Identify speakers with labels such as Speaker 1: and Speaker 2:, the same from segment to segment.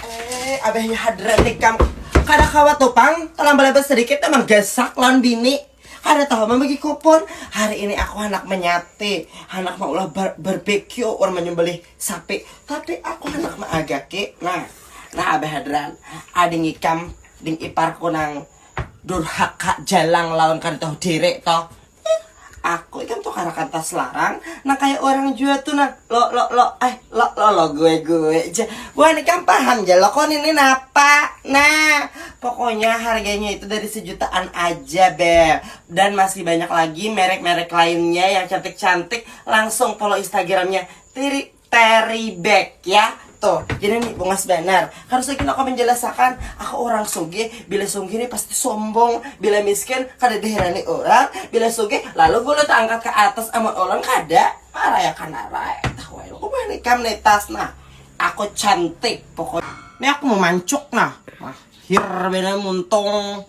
Speaker 1: Eh, abahnya hadrat nikam. Kada kawa tuh pang, terlambat-lambat sedikit tuh manggasak lawan bini. Kada tahu membagi kupon. Hari ini aku hendak menyate, hendak maulah bar barbecue orang menyembelih sapi. Tapi aku hendak meagaki. Nah, nah abah hadrat, ading ikam, ding iparku nang durhaka jalang lawan kada tahu diri toh. Ih, aku ikam tu karakan tas larang, nang kaya urang jua tu nang lo lo lo eh lo lo lo gue gue ja. Buhan ikam paham ja lokon ini napa. Nah, pokoknya harganya itu dari sejutaan aja beb. Dan masih banyak lagi merek-merek lainnya yang cantik-cantik. Langsung follow instagramnya Tiri Terry back ya tuh jadi nih bungas banar harus lagi aku menjelaskan aku orang suge bila suge ini pasti sombong bila miskin kada diherani orang bila suge lalu gulut angkat ke atas amun orang kada marah ya kana rai tahu aku mah nikam netas nah aku cantik pokoknya ini aku mau mancuk nah mahir benar muntung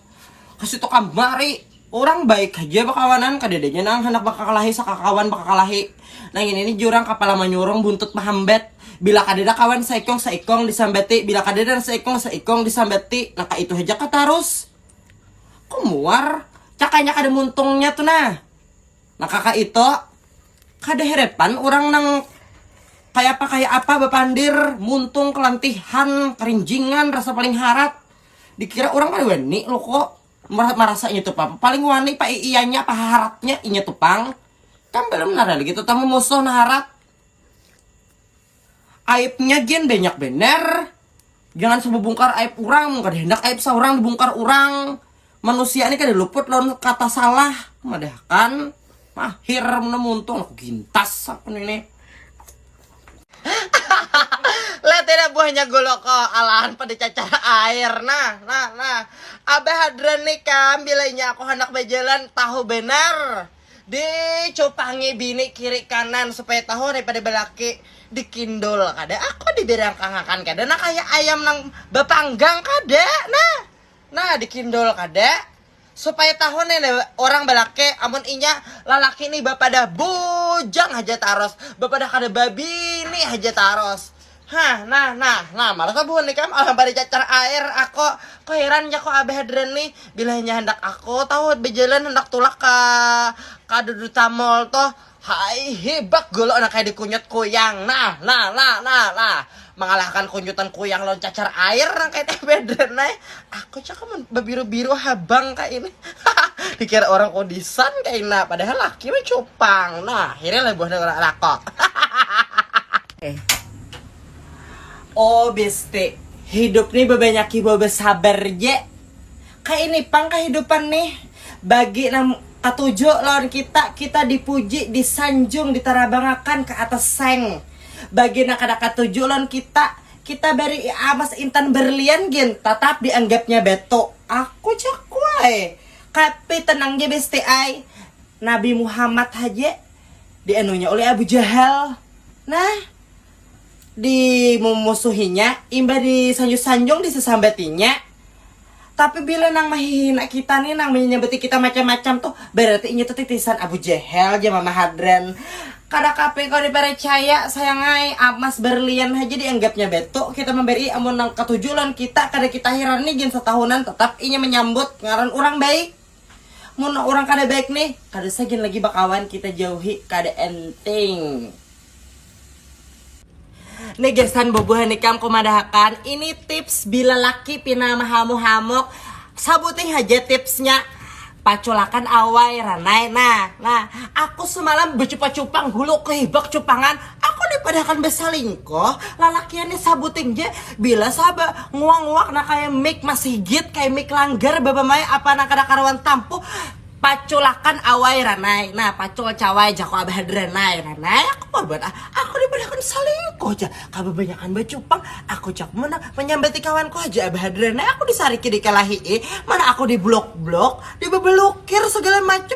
Speaker 1: kasih tukang mari Urang baik haja bakawanan, kadadanya nang handak bakakalahi sakakawan bakakalahi. Nang ini ni jurang kapala manyurung buntut mahambat. Bila kadada kawan saikung saikung disambati, bila kadada nang saikung saikung disambati, nang kaitu haja kah tarus? Ko muar, cakanya kada muntungnya tu nah. Nang kakaitu, kada heret pan urang nang kayapa kayapa bapandir muntung kalantihan, karinjingan, rasa paling harat. Dikira urang kada wani luku. Murah marasa inya tu pang paling wani pa iyanya apa haratnya inya tu pang kan belum nara lagi tetamu musuh naharat aibnya gin banyak bener jangan sebubungkar aib orang mun kada hendak aib saurang dibungkar orang manusia ni kada luput lawan kata salah madahakan mahir mun muntung aku gintas aku ini Letina buahnya guluk ko, alahan pada cacar air. Nah, nah, nah. Abah Hadran nih kam, bila inya aku handak bajalan, tahu banar. Dicupangi bini kiri kanan supaya tahu hari pada balaki. Dikindul kada aku, dibirangkangakan kada. Nah, kaya ayam nang bapanggang kada. Nah, nah dikindul kada. Supaya tahu nih leh orang balaki amun inya lalaki nih bapadah bujang haja taros, bapadah kada babini haja taros. Hah nah nah nah malas ah buhan ikam alah baricacar air ako, ko heran ja ko abah hadran nih bila inya handak ako tahu bajalan handak tulak ka ka dudutamall toh Hai hibak golo nang kaya dikunyut kuyang nah nah nah nah nah mangalahkan kunyutan kuyang lawan cacar air nang kaya tbd nai aku cak amun babiru biru habang ka ini hahaha dikira urang kudisan kaina padahal laki weh cupang nah hiri leh buhannya urang lako hahaha oh besti hidup ni babanyaki bawa basabar ja. Kaya ini pang kahidupan nih, bagi nang katuju lawan kita, kita dipuji, disanjung, ditarabangakan ka atas seng. Bagi nang kada katuju lawan kita, kita barii amas intan berlian gin tatap dianggapnya batu. Aku jakuai, kapi tenang ja besti ai, Nabi Muhammad haja dianunya ulih Abu Jahal. Nah. dimumusuhinya, imbah disanjung-sanjung disasambatinya, tapi bila nang mahihina kita nih nang manyambati kita macam-macam tuh berarti inya tuh titisan Abu Jahal jar mama Hadran, kada kape kawa diparcaya sayang ai amas berlian haja dianggapnya batu kita mambarii amun nang katuju lawan kita kada kita hirani gin satahunan tatap inya manyambut ngaran urang baik. Mun urang kada baik nih, kada usah gin lagi bakawan kita jauhi kada enting. Nih gasan bubuhan ikam kumadahakan ini tips bila laki pina mahamu hamuk sabuting haja tipsnya paculakan awai ranai nah nah aku sumalam bacupa cupang hulu kahibak cupangan Aku ni padahakan basalingkuh, lalakian ni sabuting ja, bila saba nguak-nguak nang kaya mik masigit, kaya mik langgar babamai apa nang kada karuan tampuh, paculakan awai ranai, nah pacul cawai jaku abah hadranai, ranai aku korban ah, aku ni padahakan salingkuh ja, kababanyakan bacupang, aku jak munah manyambati kawanku haja abah hadranai, aku disariki dikalahi'i, mana aku dibluk-bluk, dibabalukir sagala macam.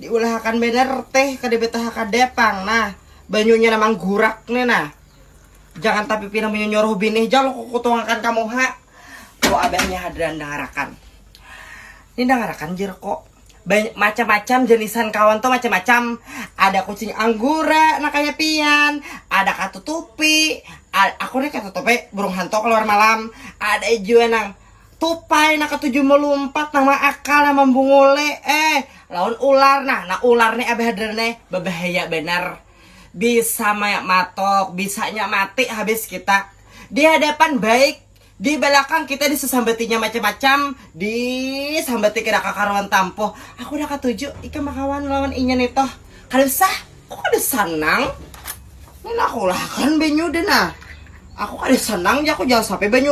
Speaker 1: Diulahakan banar teh kada betaha kada pang nah banyunya nah manggurak nih nah. Jangan tapi pinang banyu nyuruh binih jang ku kutungakan ka muha. Ku abahnya hadran dangarakan. Ini dangarakan jer kok. Macam-macam jenisan kawan tuh macam-macam. Ada kucing anggura nah kaya pian, ada katutupi, aku nih katutupi burung hantu keluar malam, ada jua nang Tupai na katuju malumpat nang maakal nang mambunguli eh lawan ular nah nah ular ni abah hadar ni babahaya banar bisa maya matok bisanya mati habis kita di hadapan baik di balakang kita di sasambatinya macam macam di sambati kada kakaruan tampuh aku kada katuju ikam bakawan lawan inya ni toh kada usah aku kada sanang ni nah aku lah akan banyuda nah aku kada sanang ja aku jangan sampai banyu.